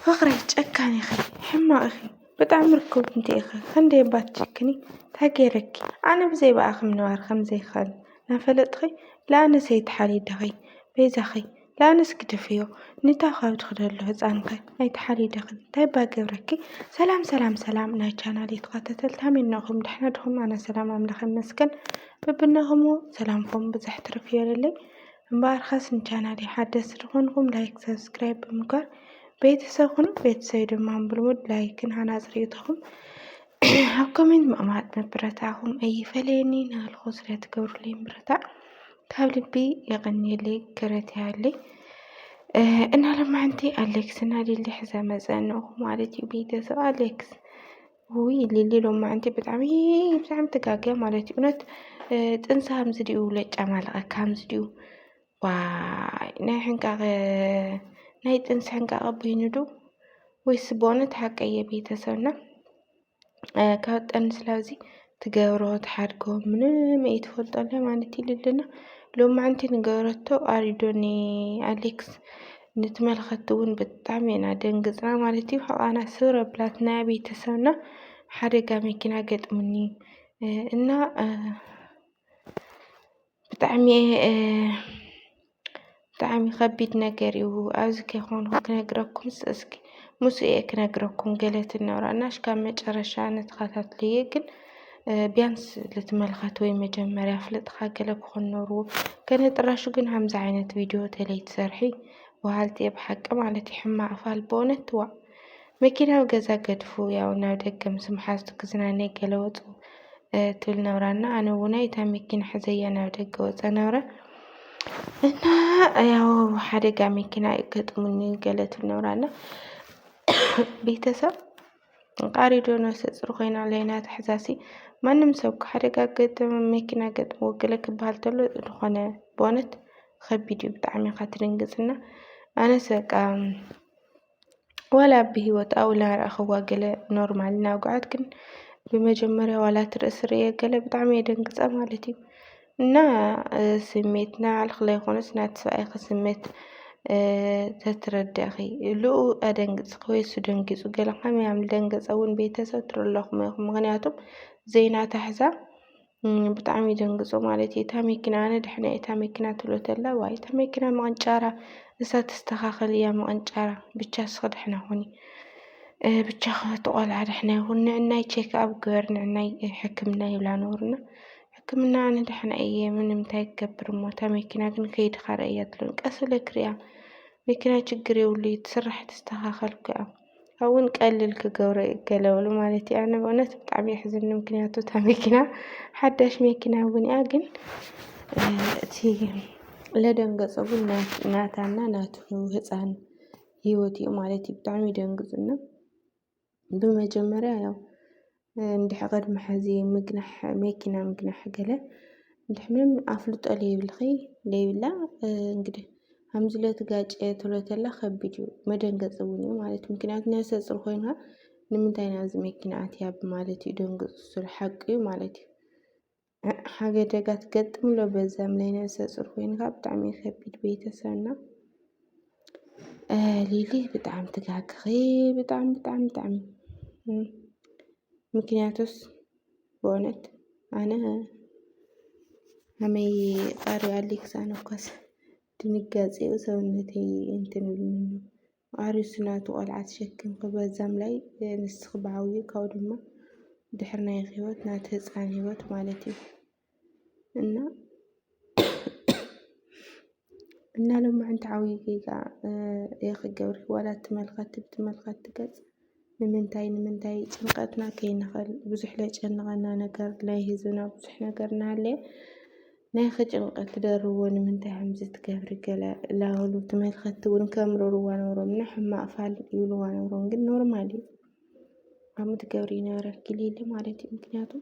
ፍቅረይ ጨካን ኢኺ ሕማቅ ኢኺ ብጣዕሚ ርክብ እንተኢኺ ክንደይ እባ ትጭክኒ እንታይ ገይረኪ ኣነ ብዘይ ብኣኺ ምንባር ከምዘይክእል ናፈለጥኺ ልኣነስ ኣይትሓሊደኺ በይዛኺ ልኣነስ ግደፍዮ ንታ ካብ ትኽደሉ ህፃንከ ኣይትሓሊደኺ እንታይ እባ ገብረኪ ሰላም ሰላም ሰላም ናይ ቻናል ተኸታተልቲ ሃመይናኹም ደሕና ድኹም ኣነ ሰላም ኣምላኽ ይመስገን በብናኹም ሰላምኩም ብዝሕ ትርፍ ይበለለይ እምበኣርካስ ንቻናለይ ሓደስቲ ዝኾንኩም ላይክ ሰብስክራይብ ብምግባር ቤተሰብ ኩኑ ቤተሰብ ድማ ብልሙድ ላይክን ሃናፅ ርእይቶኹም ኣብ ኮሜንት ምቕማጥ ምብረታኹም ኣይፈለየኒ ናልኹ ስለትገብሩለይ ምብረታዕ ካብ ልቢ የቐንየለይ ክረት ያለይ እና ለማዕንቲ ኣሌክስ እና ሊሊ ሕዘ መፀንኹ ማለት እዩ ቤተሰብ ኣሌክስ ውይ ሊሊ ሎማዓንቲ ብጣዕሚ ብጣዕሚ ትጋገ ማለት እዩ እውነት ጥንሲ ሃምዚ ድዩ ለጫ ማለቐካ ሃምዚ ድዩ ዋይ ናይ ሕንቃቐ ናይ ጥንሲ ሕንቃቐ በይኑ ዶ ወይስ በእውነት ሓቀየ ቤተሰብና ካብ ጠንስላዚ ትገብሮ ትሓድጎ ምንም ኣይትፈልጦ ኣላ ማለት ኢሉ ኣለና ሎማዓንቲ ንገረቶ ኣሪዶ ን ኣሌክስ ንትመልኸቲ እውን ብጣዕሚ ኢና ደንግፅና ማለት እዩ ሕቓና ስብር ኣብላትና ቤተሰብና ሓደጋ መኪና ገጥሙኒ እና ብጣዕሚ ብጣዕሚ ከቢድ ነገር እዩ ኣብዚ ከይኮንኩ ክነግረኩምስ እስኪ ምስኡ እየ ክነግረኩም ገለ ትናወራ እና ካብ መጨረሻ ንተኸታትልዬ ግን ቢያንስ ልትመልከት ወይ መጀመርያ ፍልጥካ ገለ ክኾን ነርዎ ከነጥራሹ ግን ሃምዚ ዓይነት ቪድዮ ተለይ ትሰርሒ በሃልቲ እየ ብሓቂ ማለት እዩ ሕማቅ ፋል በእውነት ዋእ መኪናዊ ገዛ ገድፉ ያው ናብ ደገ ምስ መሓዝቱ ክዝናነ ገለ ወፁ ትብል ነብራ እና ኣነ እውን እታ መኪና ሕዘያ ናብ ደገ ወፀ ነብረ እና ያው ሓደጋ መኪና ገጥሙኒ ገለ ትብል ነብራ እና ቤተሰብ ቃሪዶ ነፍሰ ፁር ኮይና ለይና ትሕዛሲ ማንም ሰብ ሓደጋ ገጥም መኪና ገጥሞ ገለ ክበሃል ተሎ ዝኾነ በእውነት ከቢድ እዩ ብጣዕሚ ኢኻ ትድንግፅና ኣነስ በቃ ዋላ ኣብ ብሂወት ኣብኡ ናረኣኽዋ ገለ ኖርማል ናውግዓት ግን ብመጀመርያ ዋላ እቲ ርእሲ ርእየ ገለ ብጣዕሚ እየ ደንግፀ ማለት እዩ። እና ስሜት ናይ ባዕልኺ ለይኮነስ ናይቲ ሰብኣይኪ ስሜት ተትረደእኺ እሉኡ ኣደንግፅኪ ወይ እሱ ደንጊፁ ገለ ከመይ ኣም ልደንገፀ እውን ቤተሰብ ትርለኹም ኢኹም ምክንያቱም ዘይናታሕዛ ብጣዕሚ ይድንግፁ ማለት እዩ። እታ መኪና ኣነ ድሕነያ እታ መኪና ትብሎ ተላ ዋይ እታ መኪና ምቕንጫራ ንሳ ትስተኻኸል እያ ምቕንጫራ ብቻ ንስኺ ድሕና ኹኒ ብቻኺ እቲ ቆልዓ ድሕና ይኹን ንዕናይ ቼክኣብ ግበር ንዕናይ ሕክምና ይብላ ነበሩና ሕክምና ኣነ ድሕና እየ ምንም እንታይ ክገብር እሞ እታ መኪና ግን ከይድኻ ረእያ ትብለኒ ቀስ ኢለ ክሪኣ መኪና ችግር የብሉ እዩ ትስራሕ ትስተኻኸል እኮ እያ ኣዉን ቀሊል ክገብሮ እዩ ገለዉሉ ማለት እዩ። ኣነ በእዉነት ብጣዕሚ የሕዝንኒ ምክንያቱ እታ መኪና ሓዳሽ መኪና እዉን እያ ግን እቲ ለደንገፆ ግን ናታ እና ናቱ ህፃን ህይወት እዩ ማለት እዩ ብጣዕሚ ይደንግፁ እና ብመጀመርያ ያዉ እንድሕ ቅድሚ ሕዚ ምግናሕ መኪና ምግናሕ ገለ እንድሕ ምንም ኣፍልጦ ለይብልኺ ለይብላ እንግዲህ ከምዚ ለትጋጨ ተሎተላ ከቢድ እዩ መደንገፂ እውን እዩ ማለት እዩ ምክንያቱ ነብሰ ፅር ኮይንካ ንምንታይ ናብዚ መኪና ኣትያ ብማለት እዩ ደንግፁ ስሉ ሓቂ እዩ ማለት እዩ ሓገደጋ ትገጥም ኣሎ በዛም ላይ ነብሰ ፁር ኮይንካ ብጣዕሚ ከቢድ ቤተሰብና ሊሊ ብጣዕሚ ትጋግኺ ብጣዕሚ ብጣዕሚ ብጣዕሚ ምክንያቱስ በእውነት ኣነ ኣመይ ቃሪ ኣሊክስ ኣነኳስ ድንጋፂኡ ሰውነተይ እንትንብልኒ ኣርእሱ ናቱ ቆልዓ ተሸኪምኪ በዛ ምላይ ንስኪ ብዓብይኡ ካብኡ ድማ ድሕሪ ናይኪ ሂወት ናቲ ህፃን ሂወት ማለት እዩ እና እና ሎማዓንቲ ዓብይ ጌጋ ኢኪ ገብርኪ ዋላ ትመልከቲ ብትመልከቲ ገፅ ንምንታይ ንምንታይ ጭንቀትና ከይንኽእል ብዙሕ ለጨንቐና ነገር ናይ ህዝብና ብዙሕ ነገር እናሃለየ ናይኺ ጭንቀት ትደርብዎ ንምንታይ ከምዚ ትገብሪ ገለ ላበሉ ተመልከትቲ እውን ከምርርዋ ነሮም ንሕማቅ ፋል ይብልዋ ነሮም ግን ኖርማል እዩ ከምኡ ትገብሪ ይነበረኪ ሊሊ ማለት እዩ ምክንያቱ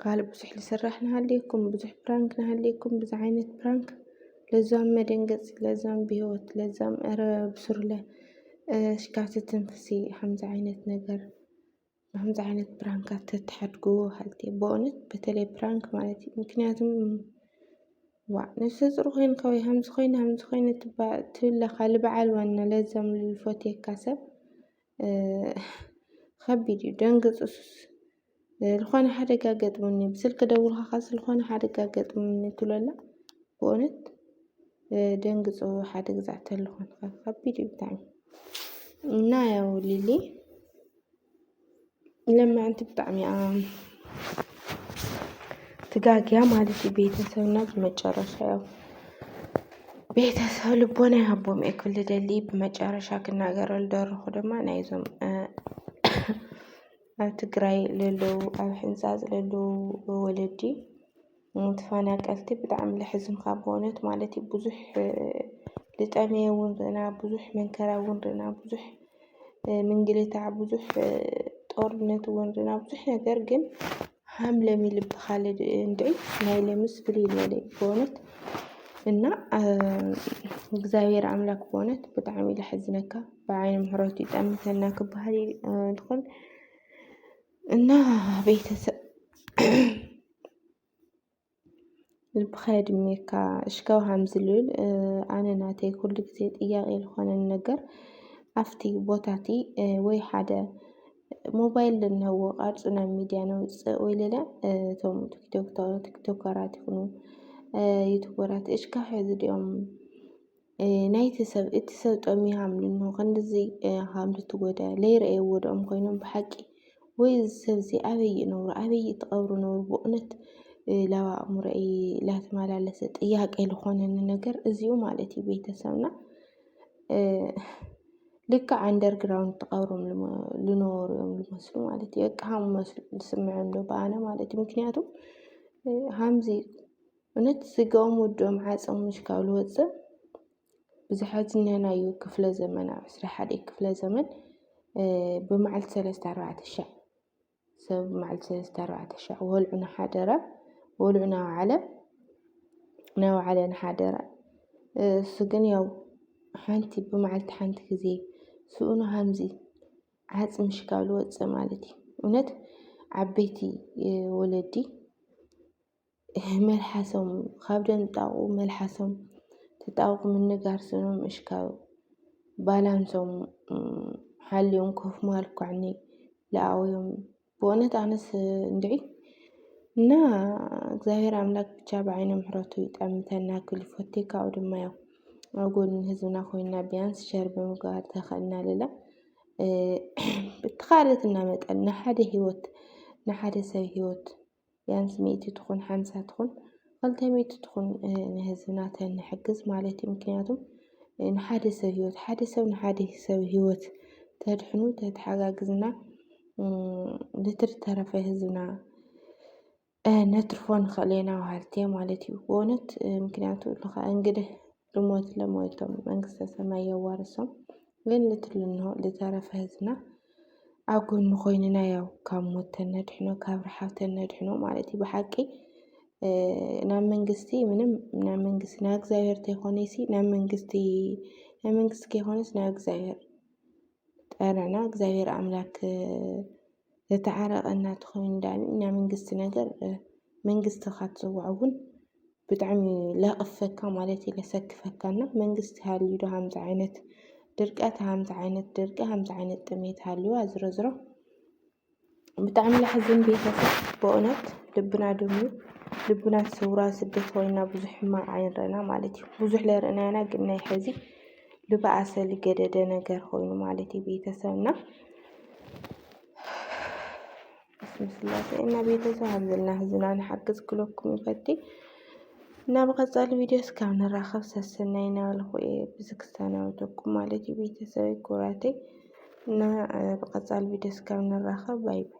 ካልእ ብዙሕ ልስራሕ ንሃልየኩም ብዙሕ ፕራንክ ንሃልየኩም ብዙሕ ዓይነት ፕራንክ ለዛም መደንገጺ ለዛም ብሂወት ለዛም እረ ብስሩለ ሽካዕቲ ትንፍሲ ከምዚ ዓይነት ነገር ከምዚ ዓይነት ፕራንክ ተትሓድግዎ ሃልኪ በእውነት በተለይ ፕራንክ ማለት እዩ ምክንያቱ ዋእ ነብሰ ፁር ኮይንካ ወይ ከምዚ ኮይነ ከምዚ ኮይነ ትብለካ ልበዓል ዋና ለዛም ልፈትየካ ሰብ ኸቢድ እዩ ደንግፁስ ዝኾነ ሓደጋ ገጥሙኒ ብስልኪ ደውልካ ኸዚ ዝኾነ ሓደጋ ገጥሙኒ ትብለላ ብእውነት ደንግፁ ሓደ ግዛ ተለኹን ኸቢድ እዩ ብጣዕሚ እና ያው ሊሊ ለምዐንቲ ብጣዕሚ እያ ትጋግያ ማለት እዩ። ቤተሰብና ብመጨረሻ ያው ቤተሰብ ልቦና ይሃቦም እየ ክብል ደሊ ብመጨረሻ ክናገረሉ ደረኹ ድማ ናይዞም ኣብ ትግራይ ለለዉ ኣብ ሕንፃፅ ለለዉ ወለዲ ንትፋናቀልቲ ብጣዕሚ ለሕዝን ካብ በእውነት ማለት እዩ ብዙሕ ልጠመየ እውን ርኢና ብዙሕ መንከራ እውን ርኢና ብዙሕ ምንግልታዕ ብዙሕ ጦርነት እውን ርኢና ብዙሕ ነገር ግን ሃም ለም ይልብኻለ እንድዒ ናይ ለምስ ፍልይ ዝበለ እዩ በእውነት እና እግዚኣብሔር ኣምላክ በእውነት ብጣዕሚ እዩ ለሕዝነካ ብዓይኒ ምሕረቱ ይጠምተና ክበሃል ይኾን። እና ቤተሰብ ልብኻ የድሜካ እሽካው ሃምዝልብል ኣነ ናተይ ኩሉ ግዜ ጥያቄ ዝኾነን ነገር ኣብቲ ቦታቲ ወይ ሓደ ሞባይል ልንህዎ ቃርፁ ናብ ሚድያ ነውፅእ ወይ ሌላ እቶም ቲክቶከራት ይኹኑ ዩቱበራት እሽካ ሕዚ ድኦም ናይቲ ሰብ እቲ ሰብ ጠሚያም ልንሆ ክንድዚ ሃምድ ትጎደ ለይረኤ ወድኦም ኮይኖም ብሓቂ ወይ እዚ ሰብ እዚ ኣበይ ይነብሩ ኣበይ ይተቐብሩ ነብሩ ብእውነት ላብ ኣእምሮይ ላተመላለሰ ጥያቄ ልኾነኒ ነገር እዚኡ ማለት እዩ ቤተሰብና ልክዕ ኣንደርግራውንድ ተቐብሮም ልነበሩ እዮም ልመስሉ ማለት እዩ በቃ ሃም መስሉ ዝስምዐም ዶ ብኣነ ማለት እዩ ምክንያቱም ሃምዚ እውነት ስጋኦም ወዶም ዓጸም ምሽካሉ ወጽእ ብዙሓት እነናዩ ክፍለ ዘመን ኣብ ዕስራ ሓደ ክፍለ ዘመን ብመዓልቲ ሰለስተ ኣርባዕተ ሻዕ ሰብ ብመዓልቲ ሰለስተ ኣርባዕተ ሻዕ ወልዑ ንሓደረ ወልዑ ናውዓለ ናውዓለ ንሓደረ እሱ ግን ያው ሓንቲ ብመዓልቲ ሓንቲ ግዜ ስኡኑ ሃምዚ ዓጽ ምሽካሉ ወጽእ ማለት እዩ እውነት ዓበይቲ ወለዲ መልሓሶም ካብ ደንጣቑ መልሓሶም ተጣብቑ ምንጋር ስኖም ምእሽካብ ባላንሶም ሓልዮም ኮፍ ማልኳዕኒ ለኣውዮም ብእውነት ኣነስ እንድዒ እና እግዚኣብሔር ኣምላክ ብቻ ብዓይነ ምሕረቱ ይጠምተና ክብል ይፈቴ ካብኡ ድማ ያው ኣብ ጎኒ ህዝብና ኮይና ቢያንስ ሸር ብምግባር ተኸእልና ልላ ብተኻእለትና መጠን ንሓደ ህይወት ንሓደ ሰብ ህይወት ቢያንስ ሚእቲ ትኹን ሓምሳ ትኹን ኸልተ ሚእቲ ትኹን ንህዝብና ተንሕግዝ ማለት እዩ ምክንያቱም ንሓደ ሰብ ህይወት ሓደ ሰብ ንሓደ ሰብ ህይወት ተድሕኑ ተተሓጋግዝና ልትር ተረፈ ህዝብና ነትርፎ ንኽእል ኢና ማለት እዩ ማለት እዩ ብእውነት ምክንያቱ እንግዲህ ልሞት ለሞይቶም መንግስተ ሰማይ የዋርሶም ግን ልትልኖ ልተረፈ ህዝብና ኣብ ጎኑ ኮይንና ያው ካብ ሞት ተነድሕኖ ካብ ረሓብ ተነድሕኖ ማለት እዩ ብሓቂ ናብ መንግስቲ ምንም ናብ መንግስቲ ናብ እግዚኣብሔር ተይኮነሲ ናብ መንግስቲ ናብ መንግስቲ ከይኮነስ ናብ እግዚኣብሔር ጠረና እግዚኣብሔር ኣምላክ ዘተዓረቀና ተኮይኑ ዳኣኒ ናይ መንግስቲ ነገር መንግስቲ እካ ትፅውዖ እውን ብጣዕሚ ለክፈካ ማለት እዩ ለሰክፈካ እና መንግስቲ ሃልዩ ዶ ሃምዚ ዓይነት ድርቀት ሃምዚ ዓይነት ድርቂ ሃምዚ ዓይነት ጥሜት ሃልዋ ዝሮዝሮ ብጣዕሚ ለሕዝን ቤተሰብ በእውነት ልብና ድሙ ልብና ሰውራ ስደት ኮይና ብዙሕ ሕማቅ ኣይንረና ማለት እዩ ብዙሕ ለርእናያና ግን ናይ ሕዚ ልባኣሰ ልገደደ ነገር ኾይኑ ማለት እዩ ቤተሰብና ስላሴ እና ቤተሰብ ሃብዘና ህዝና ንሓግዝ ክለኩም ይፈቲ እና ብቐፃሊ ቪድዮ እስካብ ንራኸብ ሰሰናይ ናበልኩ እየ ብዚ ክሰናበተኩም ማለት እዩ ቤተሰብ ኩራተይ እና ብቐፃሊ ቪድዮ እስካብ ንራኸብ ባይ ባይ